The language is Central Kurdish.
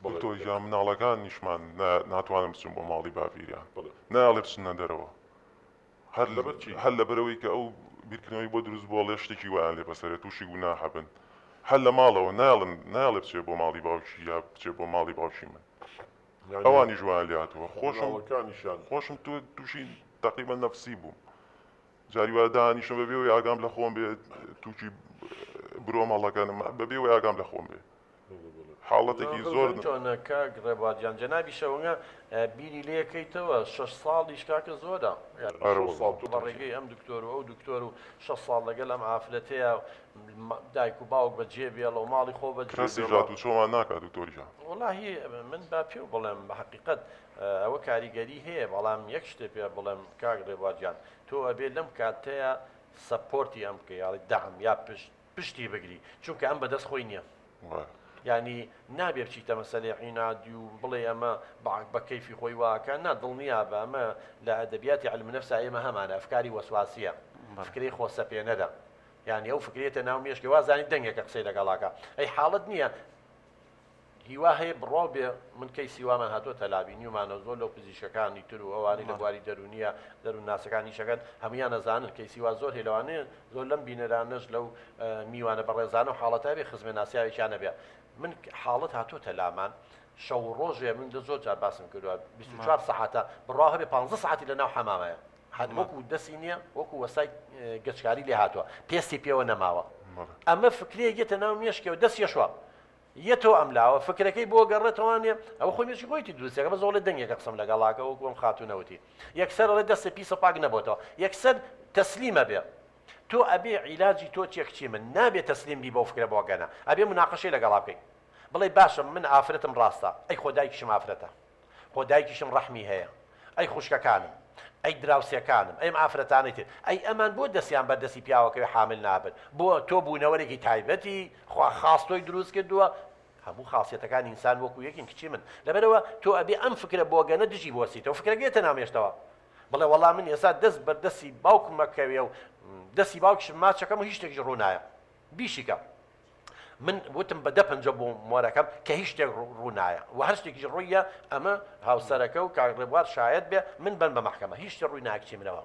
دکتۆر گیان مناڵەکانیشمان ناتوانن بچن بۆ ماڵی باپیریان نایەڵێ بچنە دەرەوە هەر لەبەرەوەی کە ئەو بیرکردنەوەی بۆ دروست بووە ڵێ شتێکی وایان لێ بەسەرێت تووشی گوناحە بن هەر لە ماڵەوە نایڵن نایڵێ بچێ بۆ ماڵی باوکی یا بچێ بۆ ماڵی باوکی من ئەوانی ژوان لاتوە خۆشەکانیشان خۆشم تۆ تووشی تەقیبە نەفسی بووم جاری وا دانیشم بە بێ وەی ئاگام لە خۆم بێ تووکی برۆم هەڵەکەنم بە بێ وەی ئاگام لە خۆم بێ حاڵەتێکی زۆر تۆنە کاک ڕێبادیان جەنابی شەوەنگە بیری لێ کەیتەوە شەش ساڵیش کاکە زۆرە ساڵ تۆ بە ڕێگەی ئەم دکتۆر و ئەو دکتۆر و شە ساڵ لەگەل ئەم ئافرەتەیە دایک و باوک بە جێ بێڵە و ماڵی خۆ بە کەسی جات و چۆمان ناکات دکتۆریان وڵی من با پێ و بڵێم بە حقیقت ئەوە کاریگەری هەیە بەڵام یەک شتێ پێ بڵێم کاک ڕێبوار گیان تۆ ئەبێ لەم کاتەیە سەپۆرتی ئەم بکەی یاڵی دەعم یا پشت پشتی بگری چونکە ئەم بەدەست خۆی نییە یعنی نابێ بچیتە مەسەلێ عینادی و بڵێ ئەمە بە کەیفی خۆی واکە نا دڵنیا بە ئەمە لە ئەدەبیاتی علم نفسا ئێمە هەمانە ئەفکاری وەسواسیە فکری خۆسەپێنەرە یعنی ئەو فکرێتە ناو مێشکی وازانی دەنگێکە قسەی لەگەڵاکە ئەی حاڵت نییە هیوا هەیە بڕواو بێ من کەیسی وامان هاتوەتە لا بینیومانەو زۆر لەو پزیشکەکانی تر و ئەوانەی لە بواری دەرونیە دەرون ناسەکان ئیشەکەن هەمویان ئەزانن کەیسی وا زۆر هەیە لەوانەیە زۆر لەم بینەرانەش لەو میوانە بەڕێزانەو حاڵەتە هەبێ خزمێ ناسیاوێکیان نەبێ من حاڵەت هاتوەتە لامان شەو و ڕۆژێ من دە زۆر جار باسم کردوە 24 سەعاتە بڕوا هەبێ 15 سەعاتی لە ناو حەمامەیە هەر وەکو دەسی نییە وەکو وەسای گەچکاری لێ هاتوە پێستی پێوە نەماوە ئەمە فکرەیەک یەتە ناو مێشکەوە دەسیەشوا یە تۆ ئەم لاوە فکرەکەی بۆ گەڕێتەوە نیە ئەوە خۆی مێشکی خۆیتی دروستەکە بەس ئەڵێ دەنگێکە قسەم لەگەڵاکە وەکو ئەم خاتوونە وتی یەکسەر ئەڵێ دەستێ پیسە پاک نەبۆتەوە یەکسەر تەسلیمە بێ تۆ ئەبێ عیلاجی تۆ چیە کچی من نابێ تەسلیم بی بەو فکرە بۆگەنە ئەبێ مناقەشەی لەگەڵا بکەی بڵێ باشە من ئافرەتم ڕاستە ئەی خۆ دایکیشم ئافرەتە خۆ دایکیشم ڕەحمی هەیە. ئەی خوشکەکانم؟ ئەی دراوسێکانم؟ ئەی ئەم ئافرەتانەی تر؟ ئەی ئەمان بۆ دەستیان بەر دەستی پیاوەکەوی حامل نابن؟ بۆ تۆ بوونەوەرێکی تایبەتی؟ خوا خاس تۆی دروست کردووە؟ هەموو خاسیەتەکانی ئینسان وەکو یەکین کچی من. لەبەرئەوە تۆ ئەبێ ئەم فکرە بۆگەنە دژی بوەستیتەوە. فکرەکە یەتە ناو مێشتەوە. بڵێ وەڵا من ئێستا دەست بەر دەستی باوکم ئەکەوێ و دەستی باوکیشم ماچ ئەکەم و هیچ شتێکیش ڕوو نایە. بیشیکە. من وتم بە دە پەنجە بۆ مۆرەکەم کە هیچ شتێک ڕوونایە و هەر شتێکیش ڕوویە ئەمە هاوسەرەکە و کاک ڕێبوار شایەت بێ من بن بە مەحکەمە هیچ شتێ ڕووی ناکچی منەوە